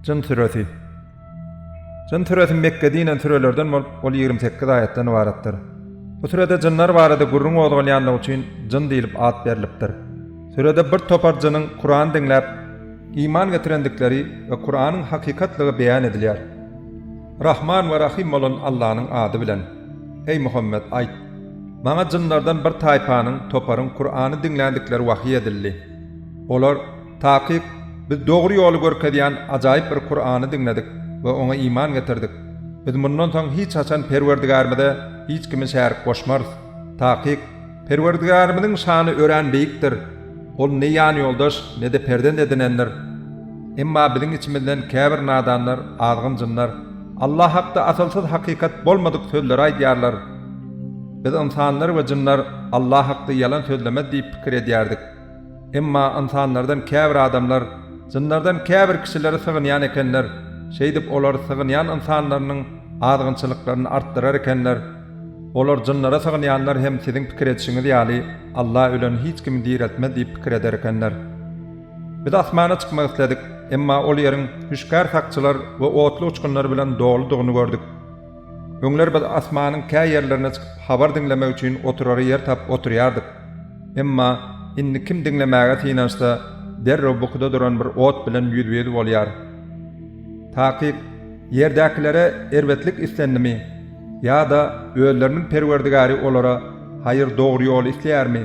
Jyn süresi. Jyn süresi Mekge dinen sürelerden bolup, ol ýigrimi sekiz aýatdan ybaratdyr. Bu sürede jynlar barada gürrüň gozgalýanlygy üçin jyn diýlip at berlipdir. Sürede bir topar jynyň Kuran diňläp, iman getirendikleri we Kuranyň hakykatlygy beýan edilýär. Rahman we Rahym bolan Allanyň ady bilen. Eý, Muhammet, aýt, Maňa jynlardan bir taýpanyň, toparyň Kurany diňländikleri wahyý edildi. Olar, Takyk, biz dogry ýoly görkezýän ajaýyp bir Kurany diňledik we oňa iman getirdik. Biz mundan soň hiç haçan Perwerdigärimize hiç kimi şärik goşmarys. Takyk! Perwerdigärimiziň şany örän beýikdir. Ol ne ýanýoldaş, ne-de perzent edinendir. Emma biziň içimizden käbir nadanlar, azgyn jynlar, Allah hakda asylsyz hakykat bolmadyk sözleri aýdýarlar. Biz ynsanlar we jynlar Allah hakda ýalan sözlemez diýip pikir edýärdik. Emma ynsanlardan käbir adamlar jynlardan käbir kişileri sygynýan ekenler, şeýdip, olar sygynýan ynsanlarynyň azgynçylyklaryny artdyrar ekenler. Olar jynlara sygynýanlar hem siziň pikir edişiňiz ýaly, Alla ölen hiç kimi direltmez diýip pikir eder ekenler. Biz asmana çykmak isledik, emma ol ýeriň hüşgär sakçylar we otly uçgunlar bilen doludygyny gördük. Öňler biz asmanyň kä ýerlerine çykyp habar diňlemek üçin oturara ýer tapyp oturýardyk. Emma indi kim diňlemäge synanyşsa, derrew bukuda duran bir ot bilen ýüzbe-ýüz bolýar. Takyk, ýerdäkilere erbetlik islendimi? Ýa-da özleriniň Perwerdigary olara haýyr dogry ýoly isleýärmi?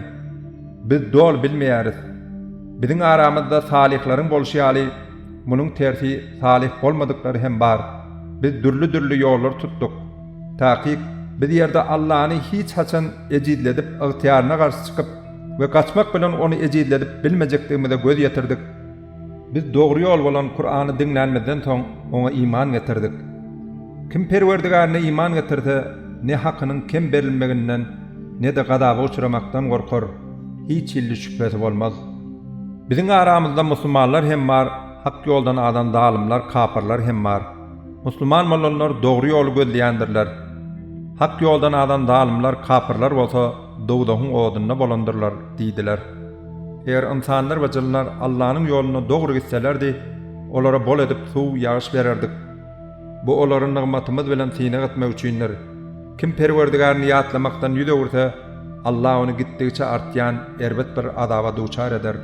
Biz doly bilmeýäris. Biziň aramyzda salyhlaryň bolşy ýaly, Munuň tersi salyh bolmadyklary hem bar. Biz dürli-dürli ýollary tutduk. Takyk, biz ýerde Allany hiç haçan ejizledip, ygtyýaryna garşy çykyp we gaçmak bilen ony ejizledip bilmejekdigimize göz ýetirdik. Biz dogry ýol bolan Kurany diňlänimizden soň oňa iman getirdik. Kim Perwerdigärine iman getirse, ne hakynyň kem berilmeginden, ne-de gazaba uçramakdan gorkar. Hiç hilli şübhesi bolmaz. Biziň aramyzda musulmanlar hem bar, hak ýoldan azan zalymlar, kapyrlar hem bar. Musulman bolanlar dogry ýoly gözleýändirler. Hak ýoldan azan zalymlar, kapyrlar bolsa dowzahyň odunda bolandyrlar diýdiler. Eger ynsanlar we jynlar Allanyň ýolunda dogry gitselerdi, olara bol edip suw, ýagyş bererdik. Bu olary nygmatymyz bilen synag etmek üçindir. Kim Perwerdigaryny ýatlamakdan ýüz öwürse, Allah ony gitdigiçe artýan erbet bir azaba duçar eder.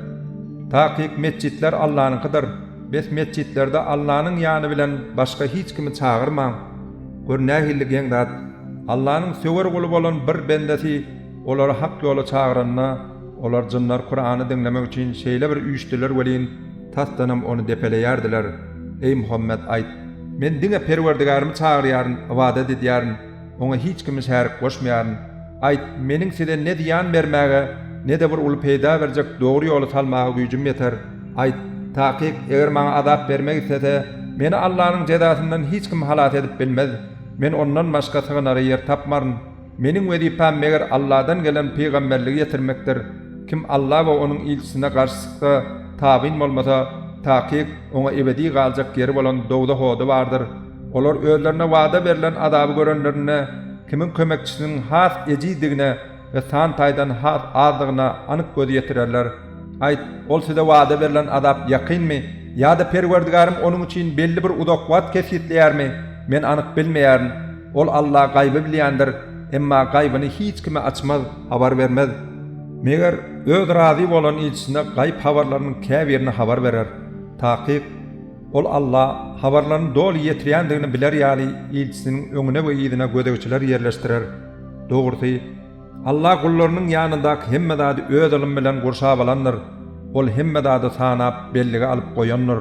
Takyk metjitler Allanyňkydyr. Bes metjitlerde Allanyň ýany bilen başga hiç kimi çagyrmaň. Gör nähilli geň zat! Allanyň söwer guly bolan bir bendesi Olary hak ýola çagyranda, olar jynlar Kurany diňlemek üçin şeýle bir üýşdüler welin, tasdanam ony depeleýärdiler. Eý Muhammet, aýt, Men diňe Perwerdigärimi çagyrýaryn, ybadat edýärin, Oňa hiç kimi şärik goşmaýaryn. Aýt, Meniň size ne zyýan bermäge, ne-de bir uly peýda berjek dogry ýoly salmaga güýjüm ýeter. Aýt, Takyk, eger maňa azap bermek islese, meni Allanyň jezasyndan hiç kim halas edip bilmez. Men Ondan başga sygynara ýer tapmaryn. Meniň wezipäm meger Alladan gelen pygamberligi ýetirmekdir, kim Alla we Onuň ilçisine garşy çyksa, tabyn bolmasa, takyk, oňa ebedi galjak ýeri bolan dowzah ody bardyr. Olar özlerine wada berlen azaby görenlerinde, kimiň kömekçisiniň has ejizdigine we san taýdan has azdygyna anyk göz ýetirerler. Aýt, Ol size wada berlen azap ýakynmy? Ýa-da Perwerdigarym onuň üçin belli bir uzak wagt kesgitleýärmi? Men anyk bilmeýärin. Ol Alla gaýby bilýändir, emma gaýbyny hiç kime açmaz, habar bermez. Meger, Öz razy bolan ilçisine gaýyp habarlarynyň käbirini habar berer. Takyk, Ol Alla habarlaryny doly ýetirýändigini biler ýaly ilçisiniň öňüne we yzyna gözegçiler ýerleşdirer. Dogrusy, Alla gullarynyň ýanyndaky hemme zady Öz ylmy bilen gurşap alandyr. Ol hemme zady sanap, bellige alyp goýandyr.